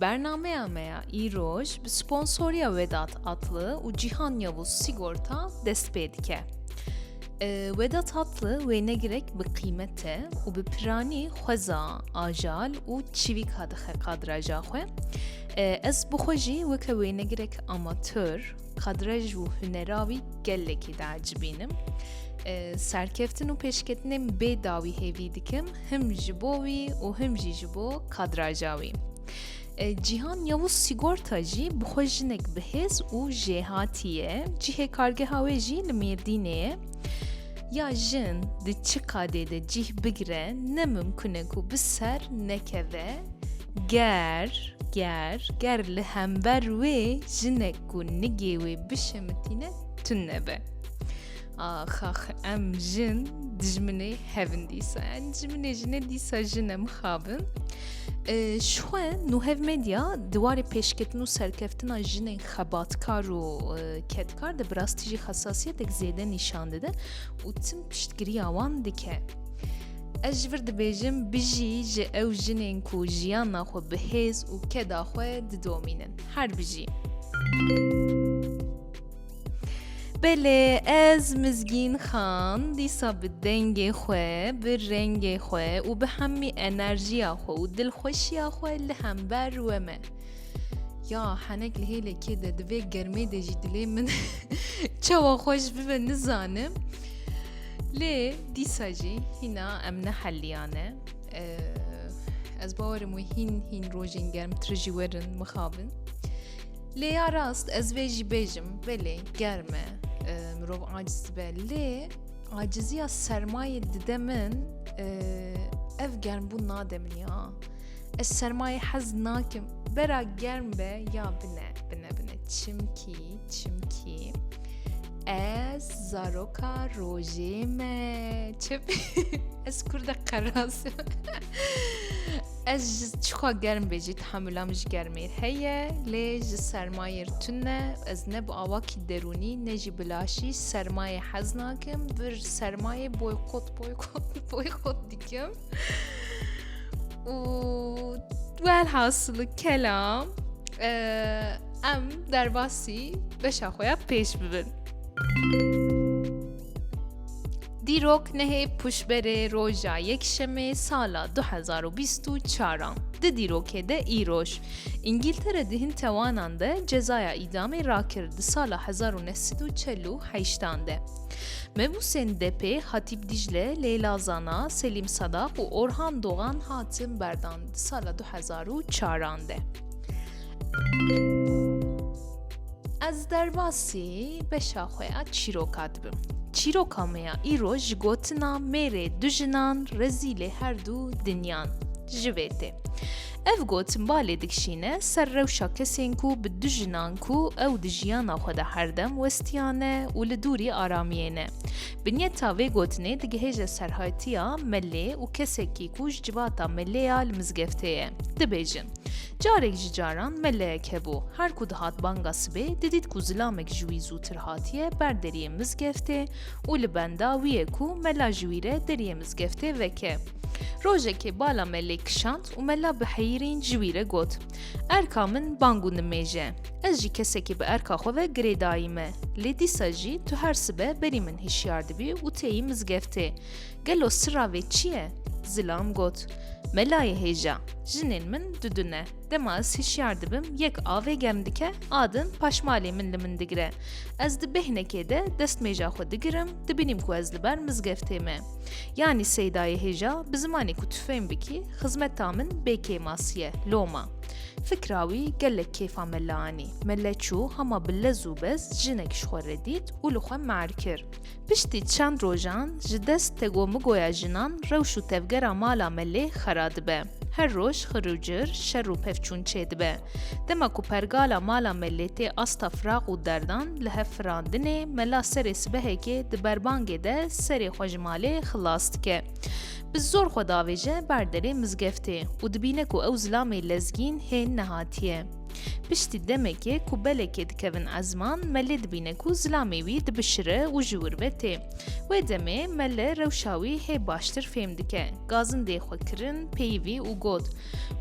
Bernameya me ya îroj bi sponsoriya Wedat Atlı û Cîhan Yavuz Sigorta dest pê dike. Wedat Atlı wêne girek bi qîmet e û bi piranî xweza ajal û çivîka dixe kadraja xwe. Ez bi xwe jî weke wêne girek amatör Kadrej û hunera wî gelekî diecibînim. Serkeftin û pêşketinên bê dawî hêvî dikim him ji bo wî û him jî ji bo kadraja wî. Cîhan Yavuz Sigorta jî bi xwe jinek bihêz û jêhatî ye. Cihê kargeha wê jî li Mêrdînê ye. Ya jin di çi qadê de cîh bigire ne mimkun e ku bi ser nekeve ger ger ger li hember wê jinek ku nigê wê bişemitîne tun nebe. Ax ax em jin dijminê hevin dîsa yani dijminê jine dîsa jine mixabin. Şxwe Nuhev Medya di warê pêşketin û serkeftina jinên Xebatkar û kedkar de bi rastî jî xesasiyetek zêde nîşan dide û tim piştgiriya wan dike. Ez ji vir dibêjim bijî ji ew jinên ku jiyana xwe bi hêz û keda xwe didomînin. Her bijî. Belê ez Mizgîn Xan dîsa bi dengê xwe, bi rengê xwe û bi hemî enerjiya xwe û dilxweşiya xwe li hember we me. Ya henek li hêlekê de divê germê de jî dilê min çawa xweş bibe nizanim. Lê dîsa jî hîna em neheliyane. Ez bawerim wê hîn hîn rojên germtir jî werin mixabin. Lê ya rast ez vê jî bêjim belê germ e mirov aciz dibe lê aciziya sermayê dide min ev germbûn nade min ya. Ez sermayê hez nakim. Bera germ be ya bine bine bine. Çimkî çimkî ez zaroka rojê me çi ez kurde qeras ez ji çixwa germ bê jî tehemulam ji germêr heye lê ji sermayêr tune ez ne bi awakî derûnî ne jî bilaşî sermayê hez nakim vir sermayê boykot boykot boykot dikim û welhasili kelam em derbasî beşa xwe ya pêş bibin. Dîrok nehê puşberê roja yekşemê sala 2024 di dîrokê de îroj. İngiltere di hin tewanan de cezaya îdamê rakir di sala 1948 de. Mebûsên DP, Hatîp Dîcle, Leyla Zana, Selîm Sadak û Orhan Dogan hatin berdan di sala du hezar û çaran de. Ez derbasî beşa xwe ya çîroka dibim. Çîroka me ya îro ji gotina mêrê du jinan rezîlê her du dinyan ji vê tê. Ev got balê dikişîne ser rewşa kesên ku bi du jinan ku ew di jiyana xwe de herdem westiyan ne û li dûrî aramiyê ne. Binyeta vê gotinê digihêje serhaytiya Melê û kesekî ku ji civata Melê ya li mizgeftê ye, dibêjin, Carek ji caran meleyek hebû, her ku dihat banga sibê, didît ku zilamek ji wî zûtir hatiye ber deriyê mizgeftê û li benda wî ye ku mela ji wî re deriyê mizgeftê veke. Rojekê bala me lê kişand û me la bi heyîrîn ji wî re got, Erka min bang û nimêje. Ez jî kesekî bi erka xwe ve girêdayî me. Lê dîsa jî tu her sibe berî min hişyar dibî û têyî mizgeftê. Gelo sira vê çi ye? Zilam got, Me layê hêja. Jinên min du du ne. Dema ez hişyar dibim yek avê germ dike, a din paşmalê min li min digire. Ez di bêhnekê de destmêja xwe digirim, dibînim ku ez li ber mizgeftê me. Yanî Seydayê hêja bi zimanê ku tu fêm bikî xizmeta min bê kêmas ye, loma. Fikra wî gelek kêfa me li anî. Me le çû hema bi lez û bez jinek ji xwe re dît û li xwe me'er kir. Piştî çend rojan ji dest tego-migoya jinan rewş û tevgera mala me lê xera dibe. Her roj xir û cir, şer û pevçûn çêdibe. Dema ku pergala mala me lê tê asta firaq û derdan li hev firandinê, mela serê sibehekê di berbangê de serê xwe ji malê xilas dike. Bi zor xwe davêje ber derê mizgeftê û dibîne ku ew zilamê lezgîn hê nehatiye. Piştî demekê ku belekê dikevin ezman, melê dibîne ku zilamê wî dibişire û ji wir ve tê. Wê demê mele rewşa wî hê baştir fêm dike. Gazindê xwe kirin peyivî û got.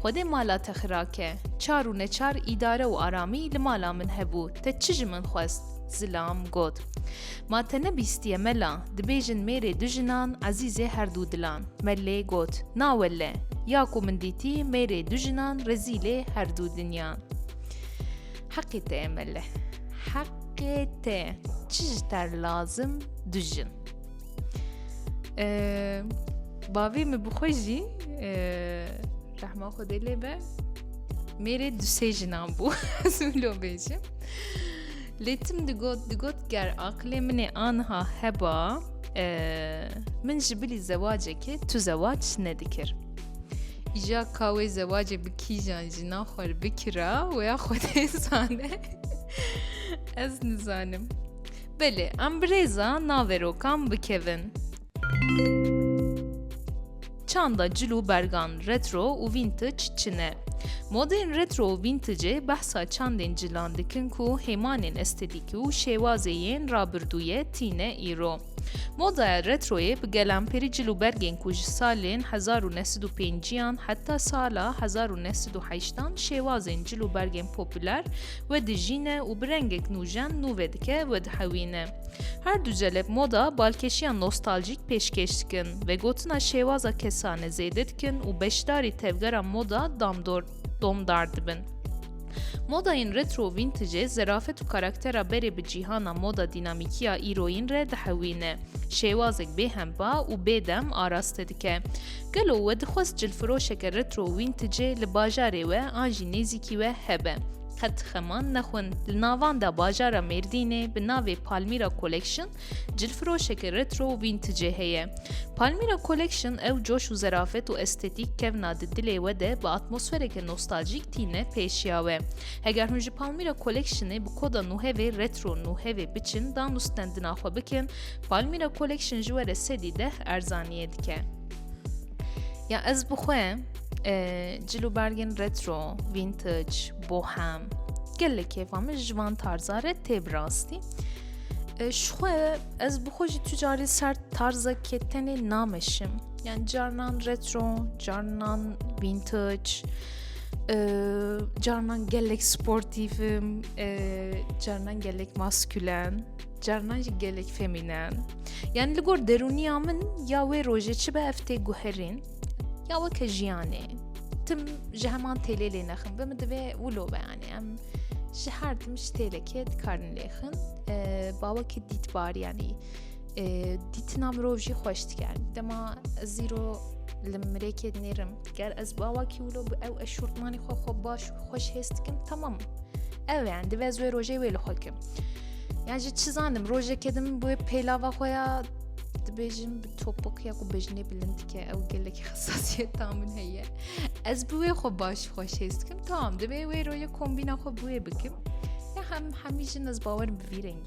Xwedê mala te xirake. Çar û neçar îdare û aramî li mala min hebû, te çi ji min xwest? Zilam got. Ma te nebîstiye mela, dibêjin mêrê du jinan ezîzê herdû dilan. Me lê got, na welle, ya ku min dîtî mêrê du jinan rezîlê herdû dinyan. Heqê te ye mele, heqê te, çi ji te lazim du jin. Bavê min bixwe jî rehma xwedê lê be mêrê dusê jinan bû ez lo bêjim lê tim digot digot ger aqilê minê anha heba min ji bilî zewacekê tu zewac nedikir îja ka wê zewacê bi kîjan jinan xwe bikira wê xwedê zane ez nizanim Belê, em birêza naverokan bikevin. Çanda cil û bergan retro û vintage çi ne? Modên retro û vintacê behsa çandên cilan dikin ku hêmanên estetîkî û şêwazê yên rabirdûyê tîne îro. Modaya retroyê bi gelamperî cil û bergên ku ji salên hezar û neh sed û pêncî yan heta sala hezar û neh sed û heşt an şêwazên cil û bergên popûler We dijîne û bi rengek nûjen nû vedike wedihewîne. Her du celeb moda balkêşiya nostaljîk pêşkêş dikin, vegotina şêwaza kesane zêde dikin û beşdarî tevgera moda damdor domdar dibin. Modayên retro û vîntijê zerafet û karaktera berê bi cîhana moda dînamîkiya îroyîn re dihewîne, şêwazek bêhempa û bêdem araste dike. Gelo we dixwest cilfiroşeke retro wîntecê li bajarê we an jî nêzîkî we hebe? Qet xeman nexwin li navanda bajara Mêrdînê bi navê Palmyra Collection cilfiroşeke retro û vîntecê heye. Palmyra Collection ew coş û zerafet û estetîk kevna di dilê we de bi atmosfereke nostalcîk tîne pêşiya we. Heger hûn ji Palmyra Collectionê bi koda nûhevê retro nûhevê biçin dan û stendina xwe bikin, Palmyra Collection ji we re sedî deh erzaniyê dike. Ya ez bi xwe cil û bergên retro, vintage, bohem gelek kêfa min ji van tarza re tê bi rastî. Ji xwe ez bi xwe jî tu carî ser tarzekê tenê nameşim. Yani carnan retro, carnan vintage, carnan gelek sportîfim, carnan gelek maskülen. Carinan jî gelek femî ne. Yani li gor derûniya min ya wê rojê çi be ev tê guherîn ya weke jiyanê. Tim ji heman têlê lê nexin bi min divê wilo be yani em ji her tim ji têlekê dikarin lêxin bawekî dîtbar yanî dîtina mirov jî xweş dikar dema zîro li mirêkê nêrim Ger ez bawakî wilo bi ew ez şortmanî xwe xwe baş û xweş hêz dikim tamam ew yan divê ez wê rojê wê li xwe kim yan ji çi zanim rojekê dim wê pêlava xwe ya dibêjim bi topik ya ku bejinê bilind dike ew gelekî xesasiyeta min heye ez bi wê xwe baş xweş hêz dikim tamam divê wê rojê kombîna xwe bi wê bikim ya hem hemî jin ez bawerim bi vî rengî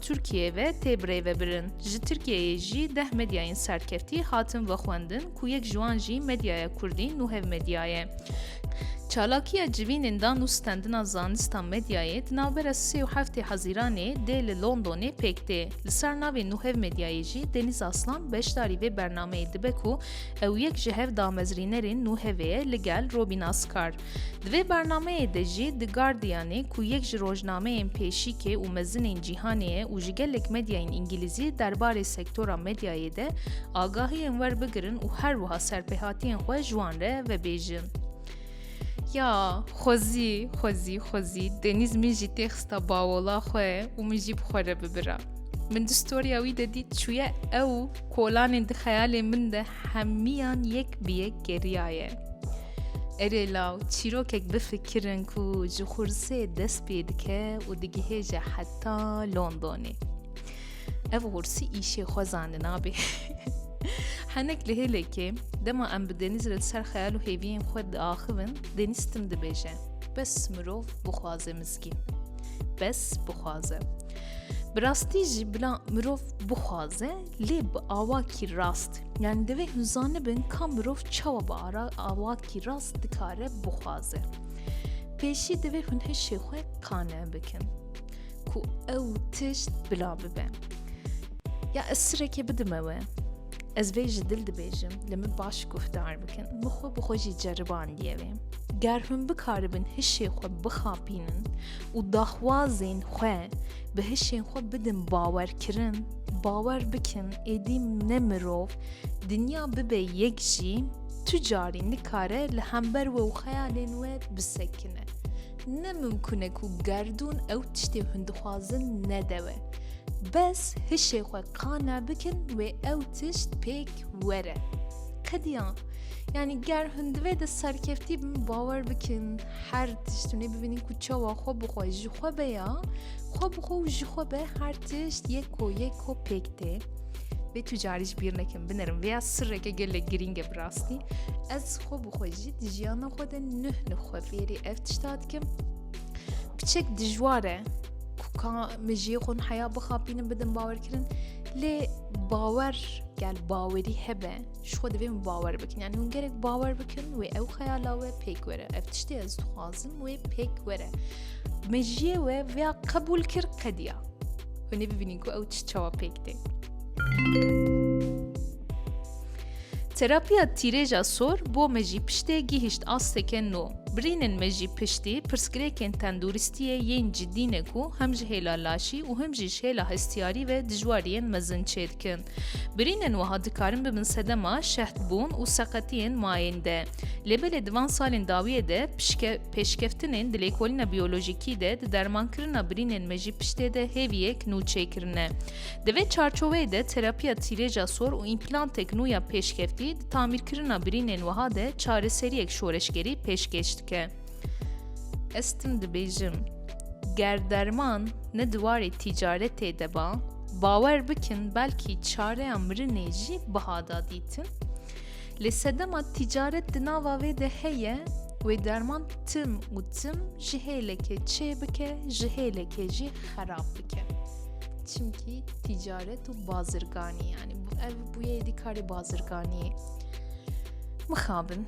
Tirkiyeyê ve tê birêvebirin. Ji Tirkiyeyê jî deh medyayên serkeftî hatin vexwendin ku yek ji wan jî Medyaya Kurdî Nuhev Medya ye. Çalakiya civînên dan û stendina zanista medyayê di navbera sê û heftê Hezîranê dê li Londonê pêk tê. Li ser navê Nuhev Medyayê jî Denîz Aslan beşdarî vê bernameyê dibe ku ew yek ji hev damezrînerên Nuhevê ye li gel Robîn Askar. Di vê bernameyê de jî The Guardianê ku yek ji rojnameyên pêşîkê û mezinên cîhanê ye û ji gelek medyayên îngîlîzî derbarê sektora medyayê de agahiyên werbigirin û her wiha serpêhatiyên xwe ji wan re vebêjin. Ya, xwezî, xwezî, xwezî, Denîz min jî tê xista bawola xwe û min jî bi xwe re bibira. Min di storya wî de dît çûye ew kolanên di xeyalên min de hemiyan yek bi yek geriyaye. Erê law çîrokek bifikirin ku ji Xursê dest pê dike û digihêje heta Londonê. Ev Xursî îşê xwe zanina bê. Henek li hêlekê dema em bi Denîz re li ser xeyal û hêviyên xwe diaxivin, Denîz tim dibêje. Bes mirov bixwaze mizgîn. Bes bixwaze. Bi rastî jî bila mirov bixwaze Lê bi awakî rast, yanî divê hûn zanibin ka mirov çawa bi awakî rast dikare bixwaze. Pêşî divê hûn hişê xwe qane bikin ku ew tişt bila bibe. Ya ez sirekê bidime we. Ez vê ji dil dibêjim, li min baş guhdar bikin. Min xwe bi xwe jî ceribandiye vê. Ger hûn bikaribin hişê xwe bixapînin û daxwazên xwe bi hişên xwe bidin bawerkirin, Bawer bikin êdî ne mirov dinya bibe yek jî tu carî nikare li hember we û xeyalên we bisekine. Ne mimkun e ku gerdûn ew tiştê hûn dixwazin nede we. Bes hişê xwe qane bikin wê ew tişt pêk were. Qediya yanî ger hûn di vê de serkeftî bin bawer bikin her tişt hûnê bibînin ku çawa xwe bi xwe ji xwe be ya Xwe bi xwe û ji xwe be her tişt yek ko yek ko pêk tê. Vê tu carî ji bîr nekim binerim vêya sirreke gelek girîng e bi rastî. Ez xwe bi xwe jî di jiyana xwe de nuh nuh xwe fêrî ev tişta dikim. Piçek dijwar e ku ka min jiyê xwe heya bixapînim bidim bawerkirin lê bawer gel bawerî hebe ji xwe divê min bawer bikin yani hûn gerek bawer bikin wê ew xeyala we pêk were ev tiştê ez dixwazim wê pêk were meciyê we vêya qebûl kir qediya hûn ê bibînin ku ew çi çawa pêk tê Terapiya tîrêja sor bo me jî piştê gihîşt asteke no. Birînin me jî piştî pirsgirêkên tenduristiyê yên cidî ne ku hem ji hêla laşî û hem jî ji hêla hestiyarî ve dijwariyên mezin çêdikin. Birînên wiha dikarin bibin sedema şehtbûn û seqetiyên mayên de. Lê belê di van salên dawiyê de pişke, pêşkeftinên di lêkolîna biyolojîkî de di dermankirina birînên me jî piştê de hêviyek nû çêkirine. Di vê çarçoveyê de terapiya tîrêja sor û împlantêk nû ya pêşkeftî di tamîrkirina birînên wiha de çareseriyek şoreşgerî pêşkêş dike. Ez tim dibêjim ger derman ne di warê tîcaretê de ba, bawer bikin belkî çareya mirinê jî biha da dîtin. Lê sedema tîcaret di nava vê de heye wê derman tim û tim ji hêlekê çê bike ji hêlekê jî xerab bike. Çimkî tîcaret û bazirganî yanî ev bûye êdî karê bazirganiyê. Mixabin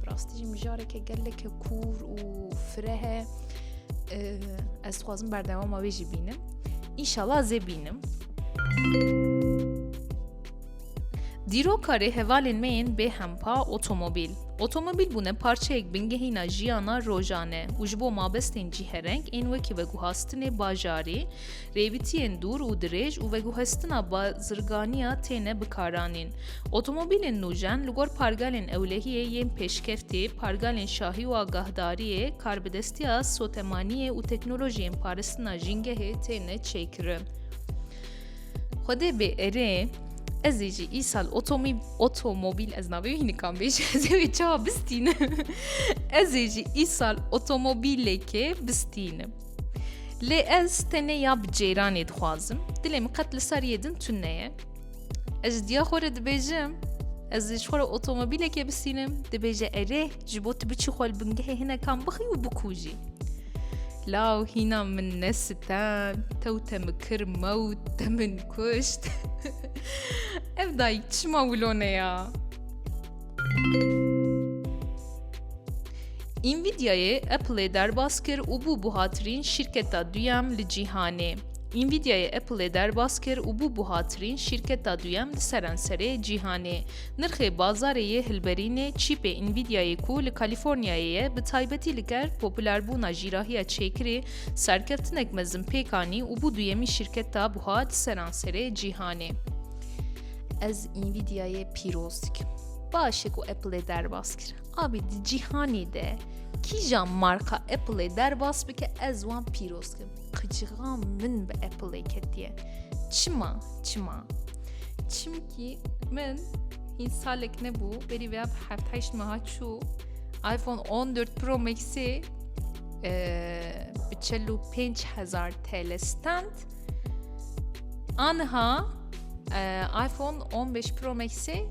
Bi rastî jî mijareke geleke kûr û fire he ez dixwazim berdewama wê jî bînim înşala zê bînim Dîrokarê hevalên me yên bê hempa otomobîl. Otomobîl bûne parçeyek bingehîna jiyana rojane û ji bo mabestên cîhereng ên wekî veguhastinê bajarî Rêvitiyên dûr û dirêj û veguhestina bazirganiya têne bikaranîn. Otomobîlên nûjen li gor pargalên ewlehiyê yên pêşkeftî, pargalên şahî û agahdariyê, karbidestiya sotemaniyê û teknolojiyên paristina jîngehê têne çêkirin. Xwedê bê erê, ez ê jî îsal otomîb otomobîl ez navê wî hînikan bêj ez ê wê çawa bistînim ez ê jî îsal otomobîlekê bistînim. Lê ez tenê ya bi cêranê dixwazim, dilê min qet li ser yê din tun neye. Ez ji diya xwe re dibêjim, ez ji xwe re otomobîlekê bisînim, dibêje erê ji bo tu biçî xwe li bingehê hinekan bixî û bikûjî. Law hîna min ne sitem, tew te min kir mewt, te min kuşt. Ev dayîk çima wilo neya? Nvidia'yê Apple'ê derbas kir û bû buhatirîn şîrketa duyem li cîhanê. Nvidia'yê Apple'ê derbas kir û bû buhatirîn şîrketa duyem li serenserê cîhanê. Nirxê bazarê yê hilberînê çîpê Nvidia'yê ku li Kalîforniyayê ye bi taybetî li ker popularbûna jîrahiya çêkirê serkeftinek mezin pêk anî û bû duyemîn şîrketa buha di seranserê cîhanê. Ez Nvidia'yê pîroz dikim. Baş e ku Apple'ê derbas kir. Abî di cîhanê de kîja marka Apple'ê derbas bike ez wan pîroz kim. Qicixan min bi Apple'ê ketiye. Çima? Çima? Çimkî min hîn salek nebû berî vêya bi heft heşt meha çû iPhone 14 Pro Max'ê e, bi çel û pênc hezar TL stand Anha iPhone 15 Pro Max'ê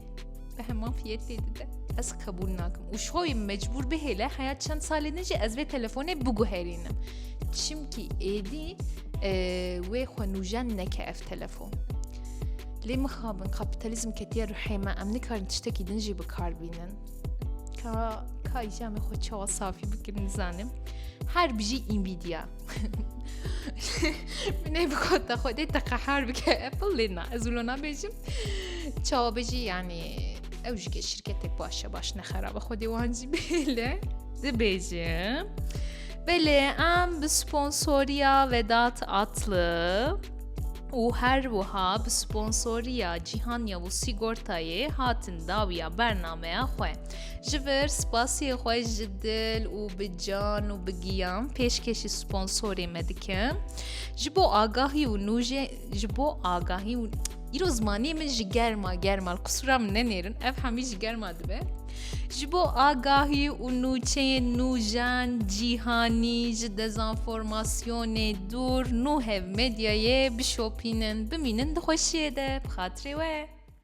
bi heman fiyetê dide. Ez qebûl nakim. Û ji xwe mecbûr bihêle heya çend salê din jî ez vê telefonê biguherînim. Çimkî êdî wê xwe nûjen neke ev telefon. Lê mixabin kapitalizm ketiye ruhê me em nikarin tiştekî din jî bikar bînin. Ka ka îjamê xwe çawa safî bikin nizanim. Her bijî Nvidia. Minê bi xwe te xwedê te qehar bike Apple lê na ez wilo nabêjim çawa bijî yanî ew ji ke şirketek başe baş nexerabe xwedê wan jî bêle dibêjim Belê em bi sponsoriya vedat atlı û her wiha bi sponsoriya cîhanya û sîgortayê hatin dawiya bernameya xwe. Ji vir spasiyê xwe ji dil û bi can û bi giyan pêşkêşî sponsorê me dikim. Ji bo agahî û nûjê ji bo agahî û îro zimanê min ji germa germa qisûra min nenêrin ev hemî ji germa dibe. Ji bo agahî û nûçeyên nûjen cîhanî ji dezanformasyonê dûr nû hev medyayê bişopînin bimînin di xweşiyê de bi xatirê we.